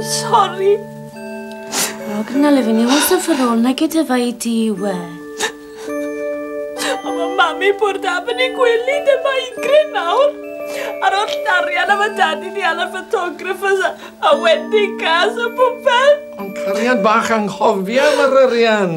Sorry. Oh, can I live in you? What's the for all? Na gyda fe i di we. Ond mae mami bwrdd am yn ei gwely dy mae gryn nawr. Ar oll darian am y dad i ni ala photographers a, a wedding cars a popeth. Ond cariad bach anghofio am yr arian.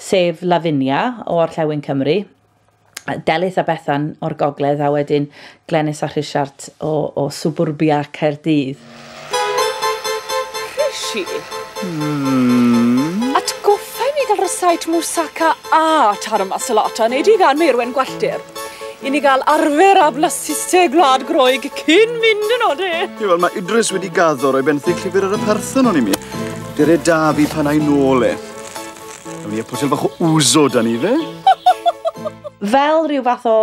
sef Lavinia o orllewin Cymru, Delyth a Bethan o'r gogledd a wedyn Glenys a Rhisiart o, o suburbia Caerdydd. Rishi? Hmm. Atgoffa i mi gael rysait moussaka a taro masalata, neu di gan meirwen gwelltir. I ni gael arfer a blasiste gwlad groeg cyn mynd yn ode. Ie, wel, mae Idris wedi gaddo roi benthyg llyfr ar y parthon o'n i mi. Dere da fi pan ai nôl e. Ewn ni a pwysel bach o wzo dan ni fe. Fel rhyw fath o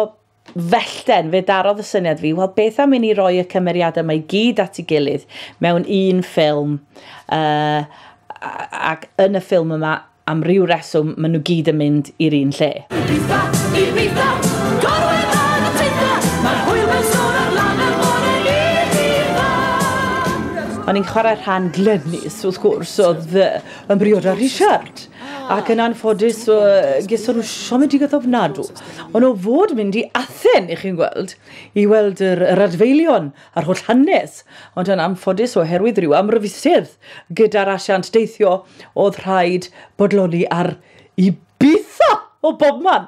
fellten, fe darodd y syniad fi, wel beth am i ni roi y cymeriadau mae gyd at ei gilydd mewn un ffilm, uh, ac yn y ffilm yma, am ryw reswm, maen nhw gyd yn mynd i'r un lle. O'n i'n chwarae rhan Glenys, wrth gwrs, oedd Yn briod â Rhisiart, ac yn anffodus geson nhw siomedigaeth ofnadw. Ond o fod mynd i Athen, i chi'n gweld, i weld yr, yr adfeilion a'r holl hanes, ond yn anffodus oherwydd rhyw amryfusedd gyda'r asiant deithio, oedd rhaid bodloni ar Ibiza o bobman!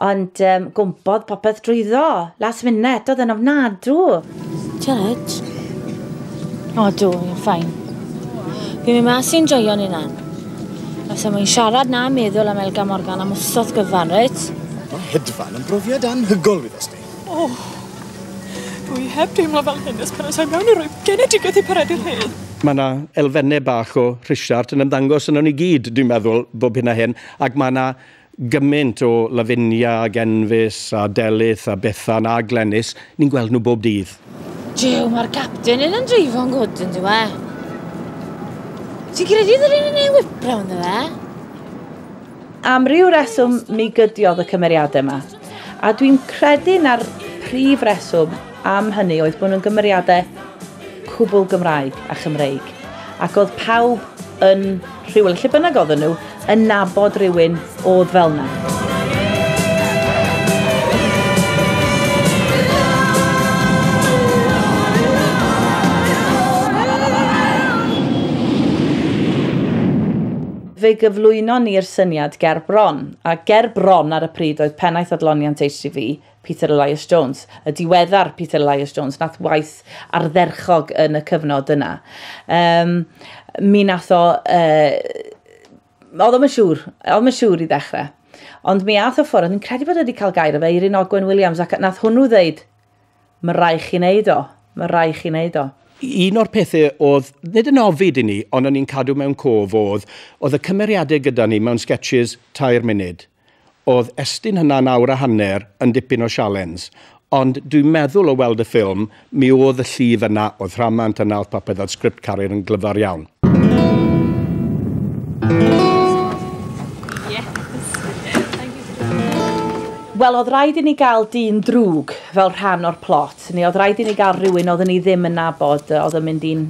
Ond um, gwmpodd popeth drwyddo. Last minute, oedd yn ofnadw. Jared? O, dw, i'n ffain. Fi'n mynd mas i'n joio'n unan. Os am i'n siarad na meddwl am Elga Morgan am wrthodd gyfan, reit? Mae hedfan yn brofiad anhygol fydd os di. O, dwi heb deimlo fel hyn ys pan oes mewn i roi genedigaeth i paredu'r hyn. Mae yna elfennau bach o Richard yn ymddangos yno ni gyd, dwi'n meddwl, bob hyn a hyn, ac mae yna Gymaint o Lavinia ag Enfys a Delyth a Bethan a Glenys, ni'n gweld nhw bob dydd. Jiw, mae'r capten yn yn dreifo'n gwd yn dywe. Ti'n credu ddylun yn ei wipro ynddo fe? Am ryw reswm mi gydiodd y cymeriadau 'ma. A dwi'n credu na'r prif reswm am hynny oedd bod nhw'n gymeriadau cwbl Gymraeg a Chymreig. Ac oedd pawb yn rhywle, lle bynnag oedden nhw, yn nabod rhywun oedd fel yna. Fe gyflwynon ni'r syniad ger bron, a ger bron ar y pryd oedd pennaeth adloniant HTV, Peter Elias Jones, y diweddar Peter Elias Jones, nath waith ardderchog yn y cyfnod yna. Um, mi nath o... Uh, oedd o'n siŵr, oedd o'n siŵr i ddechrau. Ond mi ath o ffwrdd, ni'n credu bod wedi cael gair o fe, Eirin Ogwen Williams, ac nath hwnnw ddeud, Mae rhaid chi wneud o. Mae rhaid chi wneud o. Un o'r pethau oedd, nid yn ofid i ni, ond o'n i'n cadw mewn cof oedd, oedd y cymeriadau gyda ni mewn sketches tair munud. Oedd estyn hynna'n awr a hanner yn dipyn o sialens. Ond dwi'n meddwl o weld y ffilm, mi oedd y llif yna, oedd rhamant yna, oedd popeth, oedd sgript Carir yn glyfar iawn. Wel, oedd rhaid i ni gael dyn drwg fel rhan o'r plot, neu oedd rhaid i ni gael rhywun oedden ni ddim yn nabod, oedd yn mynd i'n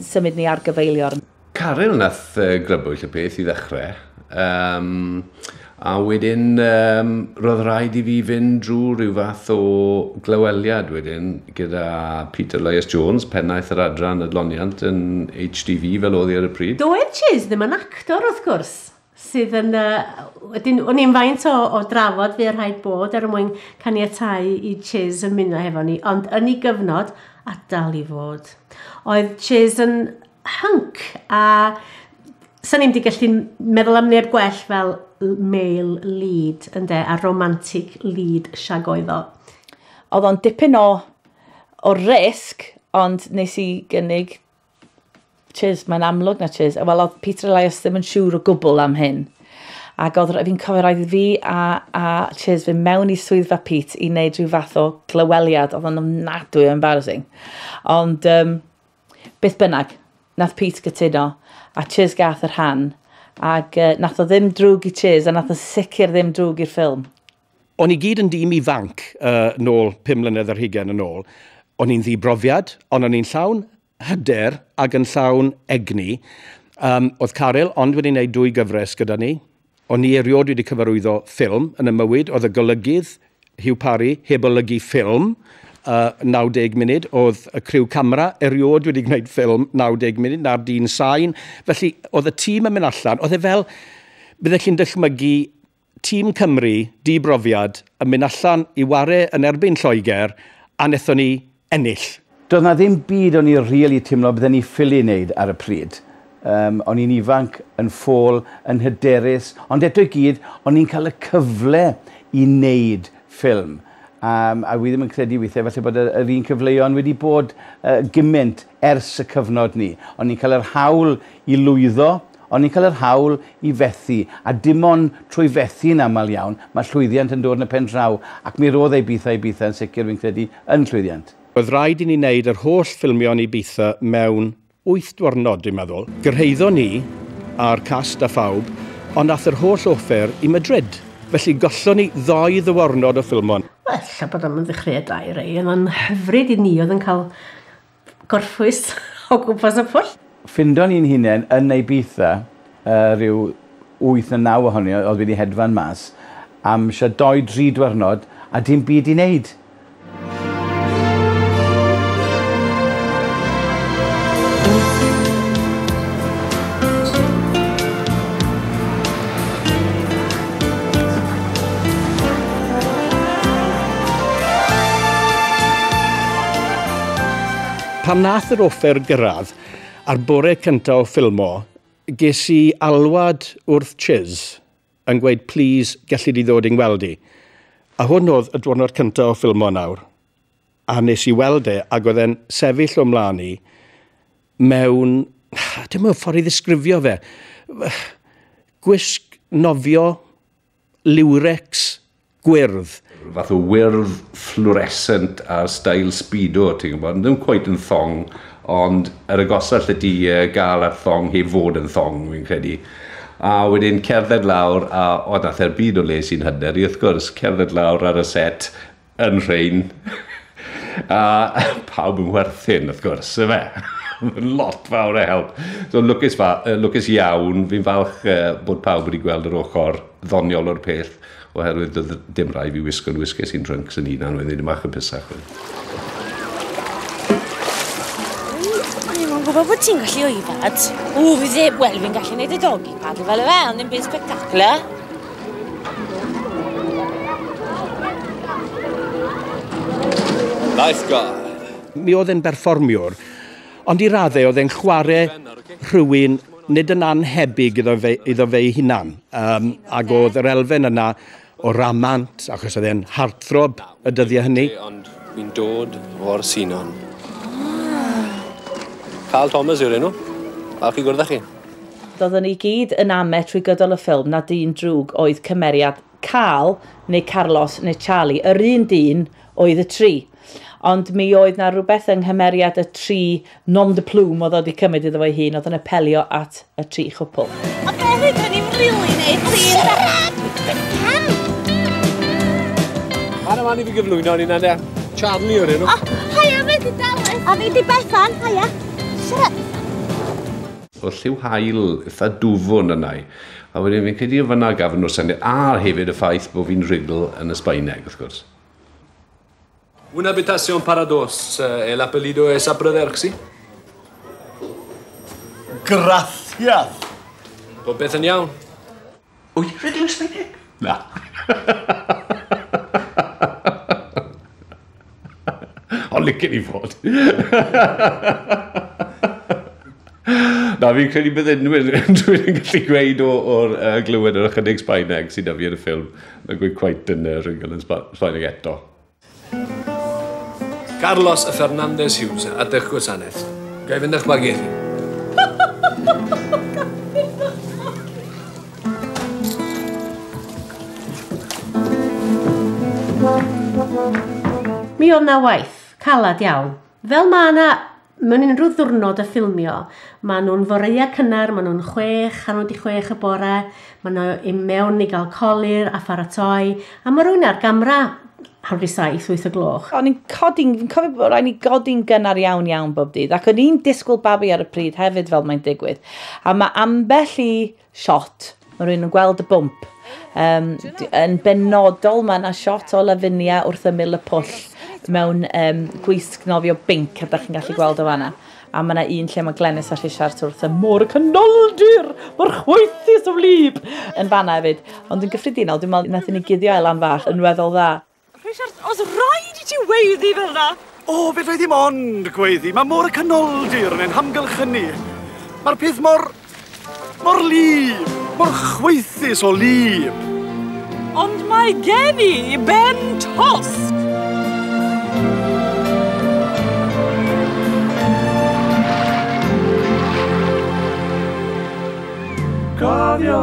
symud ni ar gyfeiliorn. Caryl nath grybwyll y peth i ddechrau. Um, A wedyn yym roedd rhaid i fi fynd drwy rhyw fath o glyweliad wedyn gyda Peter Loyes Jones, pennaeth yr adran adloniant yn HDV fel oedd hi ar y pryd. Doedd Chase ddim yn actor wrth gwrs, sydd yn yy wedyn o'n i'n faint o o drafod fuodd rhaid bod er mwyn caniatáu i Chase ymuno hefo ni, ond yn ei gyfnod, a dal i fod. Oedd Chase yn hync a sa'n ni'n di gallu meddwl am neb gwell fel male lead ynde a romantic lead siag oedd o. Oedd o'n dipyn o o risg ond nes i gynnig cheers, mae'n amlwg na cheers. Wel, oedd Peter Elias ddim yn siŵr o gwbl am hyn. Ac oedd fi'n cofio roedd fi a, a Cheers fy mewn i swyddfa Pete i wneud rhyw fath o glyweliad. Oedd o'n ofnadwy o embarrassing. Ond um, Beth bynnag, nath Pete gytuno, a Chiz gath y rhan, ag yy nath o ddim drwg i Chiz a nath o sicr ddim drwg i'r ffilm. O'n i gyd yn dîm ifanc yy nôl pum mlynedd ar hugain yn ôl. O'n i'n ddi-brofiad, ond o'n i'n llawn hyder ag yn llawn egni. Yym, o'dd Caryl ond wedi neud dwy gyfres gyda ni, O'n i erioed wedi cyfarwyddo ffilm yn 'y mywyd. Oedd y golygydd, Hugh Parry, heb olygu ffilm yy 90 munud. Oedd y criw camera erioed wedi gwneud ffilm 90 munud, na'r dyn sain. Felly, oedd y tîm yn mynd allan, oedd e fel, bydde chi'n dychmygu tîm Cymru, di-brofiad, yn mynd allan i ware yn erbyn Lloegr, a nethon ni ennill. Doedd 'na ddim byd o'n i rili timlo bydden i ffili neud ar y pryd. Yym o'n i'n ifanc, yn ffôl, yn hyderus, ond eto i gyd o'n i'n cael y cyfle i neud ffilm. Yym a wi ddim yn credu withie falle bod y yr un cyfleon wedi bod yy gymint ers y cyfnod 'ny. O'n i'n cael yr hawl i lwyddo, Ond ni'n cael yr hawl i fethu, a dim ond trwy fethu yn aml iawn, mae llwyddiant yn dod yn y pen draw, ac mi roedd Ibiza Ibiza yn sicr, fi'n credu, yn llwyddiant. Oedd rhaid i ni wneud yr holl ffilmio yn Ibiza mewn wyth dwrnod, dwi'n meddwl. Gyrhaeddon ni, a'r cast a phawb, ond ath yr holl offer i Madrid, felly gollon ni ddou ddywarnod o ffilmo. Wel, ella bod o'm yn ddechreuad da i rei, ond mae'n hyfryd i ni oedd yn cael gorffwys o gwmpas y pwll. Ffindon ni'n hunen yn Ibiza yy ryw wyth ne' naw ohoni o- odd wedi hedfan mas am shwd dou dri dwyrnod a dim byd i neud. Pan wnaeth yr offer gyrraedd ar bore cyntaf o ffilmo, ges i alwad wrth Chiz yn gweud plîs gelli di ddod i'n ngweld i? A hwn oedd y dwrnod cyntaf o ffilmo nawr, a wnes i weld e ac oedd e'n sefyll o'm mlaen i mewn, dim yn ffordd i ddisgrifio fe, gwisg nofio liwrecs gwyrdd. Fath o wyrdd fflwresent ar stail speedo, ti'n gwybod, ddim cweit yn thong, ond yr agosa allet ti gael at thong heb fod yn thong, fi'n credu. A wedyn cerdded lawr, a o, daeth e'r byd o les i'n hyder i, wrth gwrs, cerdded lawr ar y set, yn rhain, a pawb yn werthin, wrth gwrs, y fe. Mae'n lot fawr o help. So, lwcus, fa, lwcus iawn, fi'n falch uh, bod pawb wedi gweld yr ochr ddoniol o'r peth, oherwydd doedd dim rai fi wisgo'n wisges i'n drunks yn unan wedyn, ymach yn pysach. Mae'n gwybod bod ti'n gallu oedad. O, fi ddim, wel, fi'n gallu gwneud y dogi padl fel y fe, ond ddim byd spectacular. Nice guy. Mi oedd e'n berfformiwr, ond i raddau oedd e'n chwarae rhywun nid yn annhebyg iddo fe, iddo fe ei hunan. Um, ac oedd yr elfen yna o ramant, achos oedd e'n harthrob, Y dyddiau hynny. Ond fi'n dod o'r Sinon. Carl Thomas yw'r enw. Falch i gwrdd â chi. Doeddwn ni gyd yn ame trwy gydol y ffilm na dyn drwg oedd cymeriad Carl neu Carlos neu Charlie, yr un dyn oedd y tri. Ond mi oedd 'na rhywbeth yng nghymeriad y tri Nom de plume oedd o wedi cymryd iddo fo'i hun, oedd yn apelio at y tri chwpl. A be hyd o'n i'n rili neud, plîs? Pam? Ar yma ni fi gyflwyno ni na Charlie o'r enw. Oh, haia, fe di Dallas. A fi di Bethan, haia. Siarad. O lliw hael eitha dwfwn yna i. A wedyn fi'n credu o fyna gafon nhw'r syniad. A hefyd y ffaith bod fi'n rhugl yn y Sbaeneg, wrth gwrs. Una habitación para dos. El apellido es Abraderch, si? Gracias! Popeth yn iawn? Wyt ti'n rhedeg ysmynydd? Na. Ond licen i fod. Na, fi'n credu bydd unrhyw un dwi'n gallu gweud o'r uh, glywed yr ychydig Sbaeneg sydd da fi yn y ffilm. Na gweud cwaith yn y rhywun yn Sbaeneg eto. Carlos a Fernandez Hughes, adeg gwasanaeth. Ga i fynd â'ch bagiau chi? Mi oedd na waith, calad iawn, Fel mae yna mewn unrhyw ddwrnod y ffilmio, mae nhw'n foreia cynnar, mae nhw'n chwech, hanner wedi chwech y bore, mae nhw i mewn i gael colir a pharatoi, a mae rwy'n ar gamra hanner wedi saith, wyth y gloch. O'n i'n codi'n, fi'n cofio bod rhaid ni godi'n gynnar iawn iawn bob dydd, ac o'n i'n disgwyl babi ar y pryd hefyd fel mae'n digwydd. A mae ambell i Shot. Mae rhywun yn gweld y bwmp. Um, yn benodol, mae yna shot o Lavinia wrth ymyl y pwll mewn um, gwisg nofio binc, a da chi'n gallu gweld o fanna. A mae yna un lle mae Glenys a Rhisiart wrth y môr y canoldir, mae'r chwaethus o wlyb yn fanna hefyd. Ond yn gyffredinol, dwi'n meddwl, nath ni guddio Elan fach yn weddol dda. Richard, os rhaid i ti weiddi fel yna! O, fe ddoedd ddim ond gweiddi. Mae môr y canoldir yn ein hamgylchynu. Mae'r peth mor... mor lib, mor chwaethus o lib. Ond mae gen i ben tost! Cofio!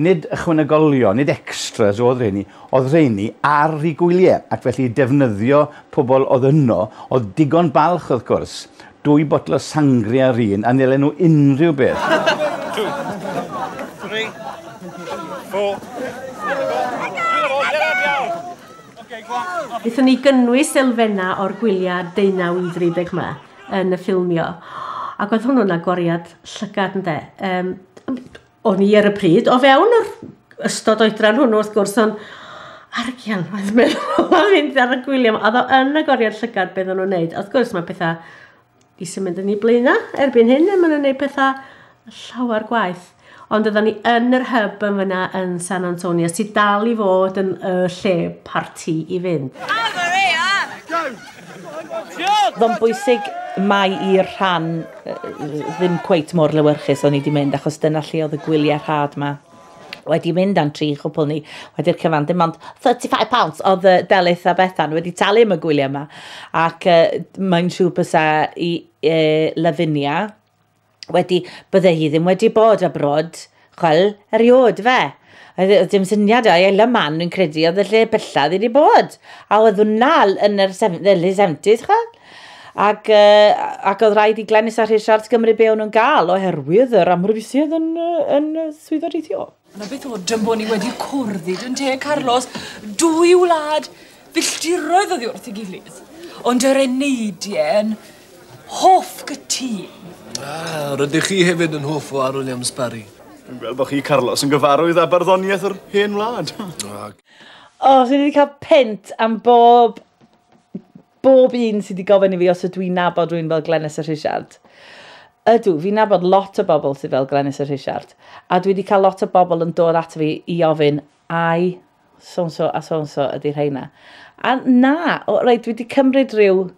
Nid ychwanegolion, nid extras oedd rheini, oedd rheini ar rhi gwylie, ac felly defnyddio pobl oedd yno, oedd digon balch wrth gwrs, dwy botel o sangria yr un, a nelen nhw unrhyw beth. Two, three, four. Wnaethon ni gynnwys elfennau o'r gwyliau deunaw i ddeuddeg yma yn y ffilmio, ac oedd hwnnw'n agoriad llygad, ynde. Yym, O'n i ar y pryd, o fewn yr ystod oedran hwnnw wrth gwrs, ond ar y ciel, mae'n meddwl, a fynd ar y gwyliau, oedd o yn y goriad llygad beth o'n nhw'n neud. Wrth gwrs, mae pethau i sy'n mynd yn ei blaenau erbyn hyn, a maen nhw'n neud pethau llawer gwaith. Ond oedden ni yn yr hyb yn fyna yn San Antonio, sydd dal i fod yn y lle parti i fynd. Go! Ddo'n bwysig mai i'r rhan ddim cweit mor lewyrchus o'n i wedi mynd, achos dyna lle oedd y gwyliau rhad ma wedi mynd am tri chwpl ni wedi'r cyfan. Dim ond £35 oedd y Delyth a Bethan wedi talu am y gwyliau yma. Ac uh, mae'n siŵr bysa i uh, Lavinia wedi, bydde hi ddim wedi bod a brod, chwel, eriod, fe. Oedd dim syniad o'i ella man, dwi'n credu, oedd y lle bellad wedi bod. A oedd hwnna yn yr early 70s, chwel. Ac, uh, ac oedd rhaid i Glenys a Rhys Siarts gymryd be o'n nhw'n gael oherwydd yr amryfisiad yn, yn swyddogaethio. Yna beth oedd dyn bod ni wedi cwrdd i dyn te, Carlos? Dwy wlad filltiroedd oedd wrth i gilydd. Ond yr eneidien, hoff gytun. Ah, rydych chi hefyd yn hoff o Arwyn am Sbari. Dwi'n gweld bod chi, Carlos, yn gyfarwydd â barddoniaeth yr hen wlad. O, oh, dwi wedi cael pent am bob bob un sydd wedi gofyn i fi os ydw i'n nabod rwy'n fel Glenys y Rhisiart. Ydw, fi'n nabod lot o bobl sydd fel Glenys y Rhisiart, a dwi wedi cael lot o bobl yn dod ato fi i ofyn, ai so-and-so a so-and-so ydy rheina. A na, o, rei, dwi wedi cymryd rhyw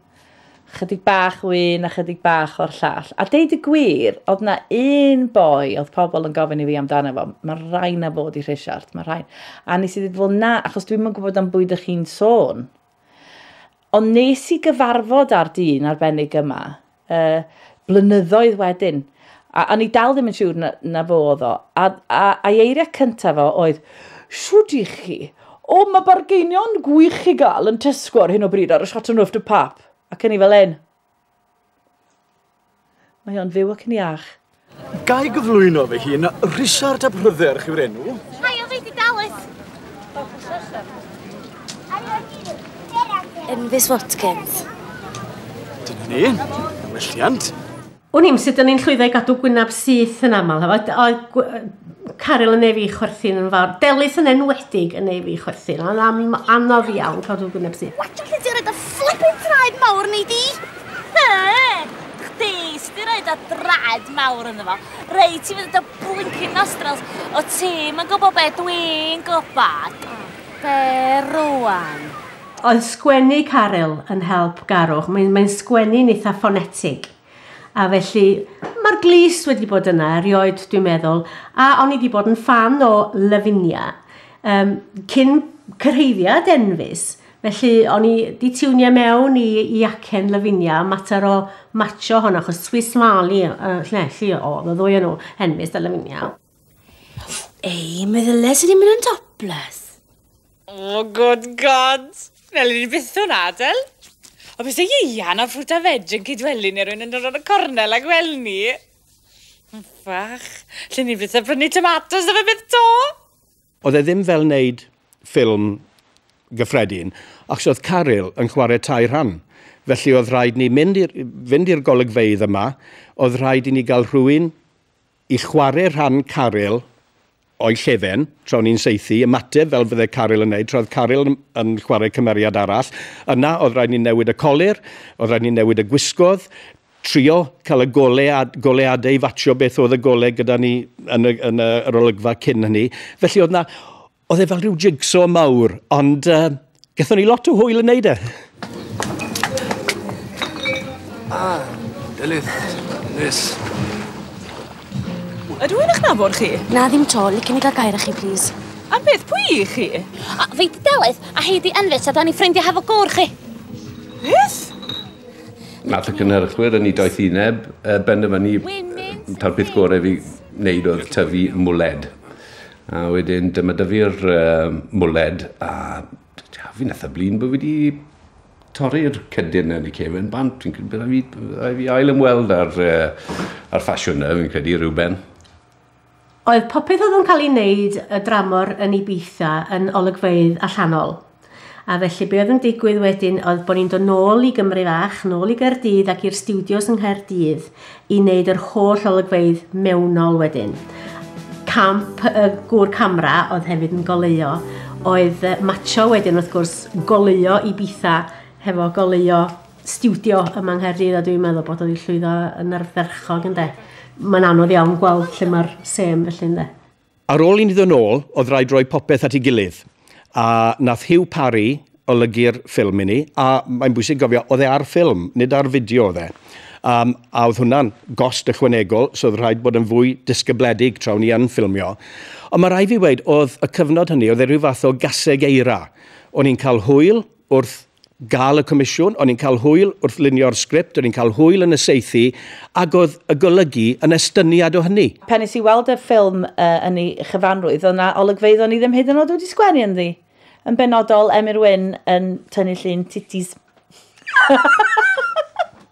chydig bach o un a chydig bach o'r llall. A deud y gwir, oedd na un boi oedd pobl yn gofyn i fi amdano fo, mae rhain na fod i Rhisiart, mae rhain. A nes i ddweud, fel na, achos dwi'n mynd gwybod am bwyd ych chi'n sôn. Ond nes i gyfarfod â'r dyn arbennig yma, uh, blynyddoedd wedyn, a o'n i dal ddim yn siŵr na, na fo oedd o, a, a, a eiriau cyntaf o oedd, siwd i chi, o mae bargeinion gwych i gael yn Tesco ar hyn o bryd ar y Chateau Neuf de Pap, ac yn i fel un, Mae o'n fyw ac yn iach. Gai gyflwyno fy hun, Richard ap Rhydderch yw'r enw. Mae o wedi dalet. Yn Fis Watkins. Dyna ni, welliant. Wn i'm sut o'n i'n llwyddo i gadw gwynab syth yn aml. Oedd, oedd, Caryl yn ei fi chwerthin yn fawr. Delys yn enwedig yn ei fi chwerthin. Ond am anodd iawn cael rhyw gwyneb sydd. Watch allu di rhaid y flippin traed mawr ni di. Chdi, sdi rhaid y draed mawr yn fo. Rei ti fydd y blinkin nostrils o ti. Mae'n gwybod be dwi'n gwybod. Be rwan? Oedd sgwennu Caryl yn help Garwch? Mae'n mae sgwennu'n eitha ffonetig. A felly, mae'r glust wedi bod yna erioed, dwi'n meddwl, a o'n i wedi bod yn fan o Lavinia um, cyn cyrhaeddiad Enfys, felly o'n i wedi tiwnio mewn i, i acen Lavinia, mater o macho hon, achos Swiss Mali, uh, lle, lle oedd y ddwy yn nhw, Enfys a Lavinia. Ei, meddylia sydd wedi mynd yn topless. Oh, good God! Fel i ni byth o'n adel. O beth ei ian a ffrwt a fed yn cydwelu neu rwy'n yn dod o'n y cornel a gwel ni. Fach, lle ni byth a brynu tomatos na fe byth to? Oedd e ddim fel wneud ffilm gyffredin, achos oedd Caryl yn chwarae tair rhan. Felly oedd rhaid ni mynd i'r, fynd i'r golygfeydd yma, oedd rhaid i ni gael rhywun i chware rhan Caryl o'i llefen tra o'n i'n saethu, ymateb fel fydde Caryl yn neud, tra oedd Caryl yn yn chware cymeriad arall. Yna oedd rhaid ni newid y colur, oedd rhaid ni newid y gwisgoedd, trio cael y gole a goleadau i fatshio beth oedd y gole gyda ni yn y yn y yr olygfa cyn hynny. Felly oedd 'na Oedd e fel rhyw jigsaw mawr, ond uh, gethon ni lot o hwyl yn neud e. Ah, Delyth, Liz. Ydw i'n eich nabod chi? Na, ddim to. Licen i gael gair â chi, please. Am beth, pwy i chi? A, fi di Delyth, a hei di Enfit, a da ni ffrindiau hefo gôr chi. Beth? Nath y cynhyrchwyr yn ei doethineb uh, benderfynu ta'r peth gorau fi wneud oedd tyfu mwled. A wedyn dyma da fi'r uh, mwled a fi'n eitha blin bod fi wedi torri'r cydyn yn y cefn bant. Fi'n credu bod fi, fi ail ymweld ar, uh, ar ffasiwn na, fi'n credu rhywben. Oedd popeth oedd yn cael ei wneud y dramor yn ei beitha yn olygfeidd allanol? A felly be oedd yn digwydd wedyn oedd bod ni'n dod nôl i Gymru fach, nôl i Gaerdydd ac i'r stiwdios yng Nghaerdydd i wneud yr holl olygfeydd mewnol wedyn. Camp y gŵr camera oedd hefyd yn goleuo oedd matsio wedyn wrth gwrs goleuo Ibiza hefo goleuo stiwdio yma yng Nghaerdydd a dwi'n meddwl bod wedi llwyddo yn ardderchog ynde. Mae'n anodd iawn gweld lle mae'r sêm felly ynde. Ar ôl i ni ddod nôl, oedd rhaid rhoi popeth at ei gilydd. A nath Hugh Parry olygu'r ffilm i ni, a mae'n bwysig gofio, oedd e ar ffilm, nid ar fideo oedd e. Um, a oedd hwnna'n gost ychwanegol, so oedd rhaid bod yn fwy disgybledig tra o'n i yn ffilmio. Ond mae rhaid fi weud, oedd y cyfnod hynny, oedd e rhyw fath o gaseg eira. O'n i'n cael hwyl, wrth gael y comisiwn, o'n i'n cael hwyl wrth lunio'r sgript, o'n i'n cael hwyl yn y seithi, ac oedd y golygu yn estyniad o hynny. Pan nes i weld y ffilm uh, yn ei chyfanrwydd, oedd yna olygfeydd o'n i ddim hyd yn oed wedi sgwennu ynddi. Yn benodol, Emyr Wyn yn tynnu llun titis.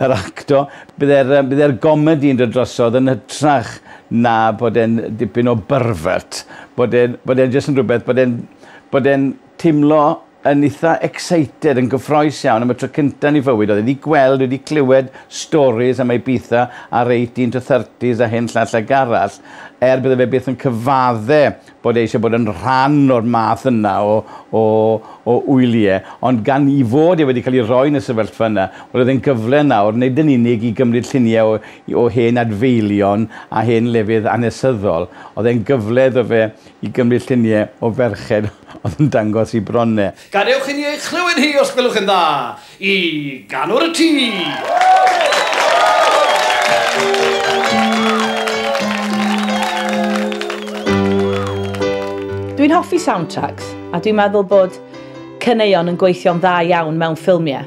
Yr acto. Bydd e'r yym bydd e'r gomedi yn dod drosodd yn hytrach na bod e'n dipyn o byrfert. Bod e'n bod e'n jyst yn rhwbeth bod e'n bod e'n timlo yn itha excited yn gyffrous iawn am y tro cynta yn 'i fywyd. Oedd e 'di gweld wedi clywed storis am Ibiza a'r eighteen to thirties a hyn llall ag arall er bydde fe byth yn cyfadde bod e eisiau bod yn rhan o'r math yna o o o wylie ond gan 'i fod e wedi cael ei roi yn y sefyllfa yna wel oedd e'n gyfle nawr nid yn unig i gymryd llunie o i- o hen adfeilion a hen lefydd anesyddol oedd e'n gyfle iddo fe i gymryd llunie o ferched oedd yn dangos 'i bron e. Gadewch i ni ei chlywed hi os gwelwch yn dda! I ganwr y tŷ! Dwi'n hoffi soundtracks, a dwi'n meddwl bod caneuon yn gweithio'n dda iawn mewn ffilmiau.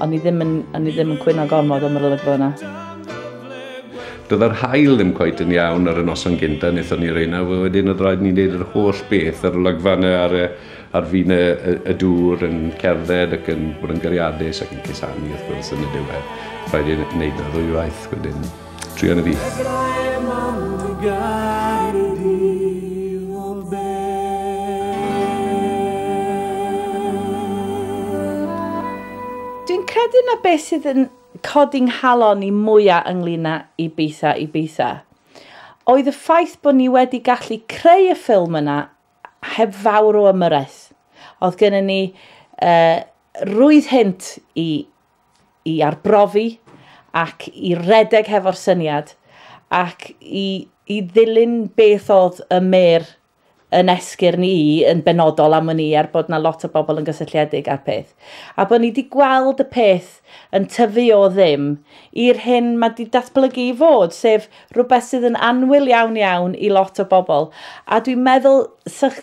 O'n i ddim yn, o'n i ddim yn cwyno gormod am yr olygfa yna. Doedd yr hael ddim cweit yn iawn ar y noson gynta, wnaethon ni reina, wedyn oedd rhaid ni wneud yr holl beth, yr olygfa yna ar, ar fin y, y, y dŵr yn cerdded ac yn bod yn gariadus ac yn cusanu wrth gwrs yn y diwedd. Rhaid i'n wneud y ddwywaith wedyn. Trio na fi. Dwi'n credu na beth sydd yn codi nghalon i mwyaf ynglyn â Ibiza Ibiza oedd y ffaith bod ni wedi gallu creu y ffilm yna heb fawr o ymyrraeth. Oedd gennym ni uh, rwydd hynt i i arbrofi ac i redeg hefo'r syniad ac i, i ddilyn beth oedd y mer yn esgyrn i yn benodol am wn i er bod na lot o bobl yn gysylltiedig â'r peth. A bod ni wedi gweld y peth yn tyfu o ddim i'r hyn mae wedi datblygu i fod, sef rhywbeth sydd yn anwyl iawn iawn i lot o bobl. A dwi'n meddwl, sych,